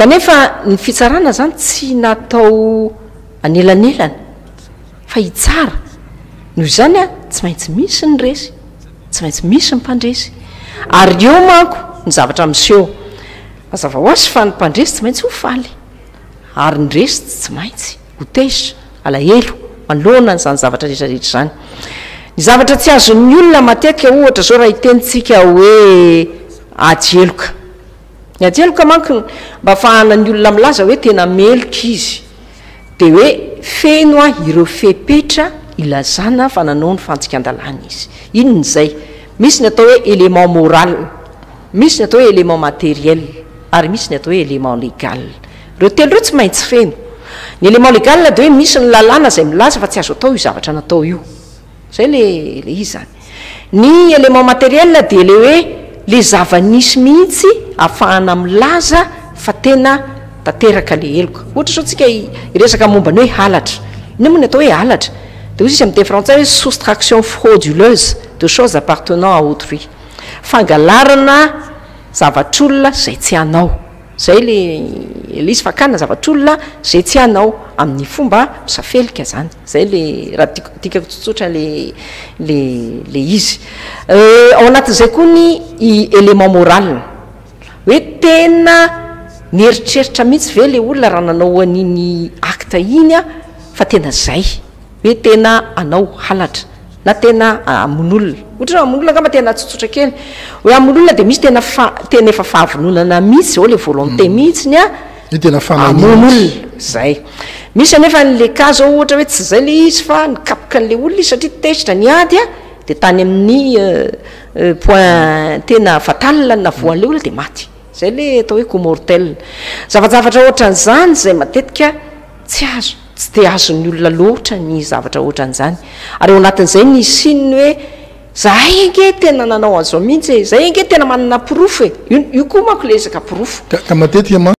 Kanefa ny fitsarana izany tsy natao anelanelana fa hitsara, noho izany tsy maintsy misy ny resy, tsy maintsy misy ny mpandresy, ary eo manko ny zavatra miseho. Mazava ho azy fa ny mpandresy tsy maintsy ho faly, ary ny resy tsy maintsy ho tezitra, alahelo, manoloana an'izany zavatra rehetrarehetra izany. Ny zavatra tsy azon'ny olona matetika ohatra izao raha hitenitsika hoe ady heloka. Ny antsheloka manko mba afahana ny olona milaza hoe tena meloka izy dia hoe feno a ireo fepetra ilazana fa nanao ny fantsikan-dalàna izy. Inona izay? Misy ny atao hoe élément moral, misy ny atao hoe élément matériel ary misy ny atao hoe élément légal. Ireo telo ireo tsy maintsy feno. Ny élément légal dia hoe misy ny lalàna izay milaza fa tsy azo atao io zavatra natao io. Zay le le izy zany. Ny élément matériel dia le hoe le zava-nisy mihitsy afahana milaza fa tena tanteraka le heloka. Ohatra izao tsika hiresaka momba ny hoe halatra. Inona moa ny atao hoe halatra? De hoy izy amin'ny teny frantsay hoe soustraction frauduleuse de choses appartenant à autrui. Fangalarana zavatr'olona izay tsy anao. Zay le izy fakana zavatr'olona zay tsy anao amin'ny fomba misafelika zany zay le raha tiako dikako tsotsotra le le le izy euh ao anatin'izay koa ny i element moral ny hoe tena nieritreritra mihitsy ve le olona raha nanao an'iny acte iny fa tena zay Hoe tena anao halatra na tena hamono olona, otrany hamono olona angamba tena tsotsotra kely, hoe hamono olona dia misy tena fa tena efa fahavononana mihitsy zao le volonté mihitsy ny a Hoe tena fananina hamono olona, mihitsy. zay. Misy anefa an le cas zao ohatra hoe tsy zay le izy fa nikapoka an le olona izy satria tezitra ny ady a, dia tany amin ny point tena fatal no navoan le olona dia maty. Zay le atao hoe coup mortel. Zavajavatra ohatran zany zay matetika tsy azo. Tsy dia azon'ny olona loatra ny zavatra ohatran'izany. Ary ao anatin'izay ny hisian'ny hoe, Izahay ange tena nanao an'izao mihitsy e! Izahay ange tena manana porofo e! Io koa manko ilay resaka porofo. Ka matetika mantsy.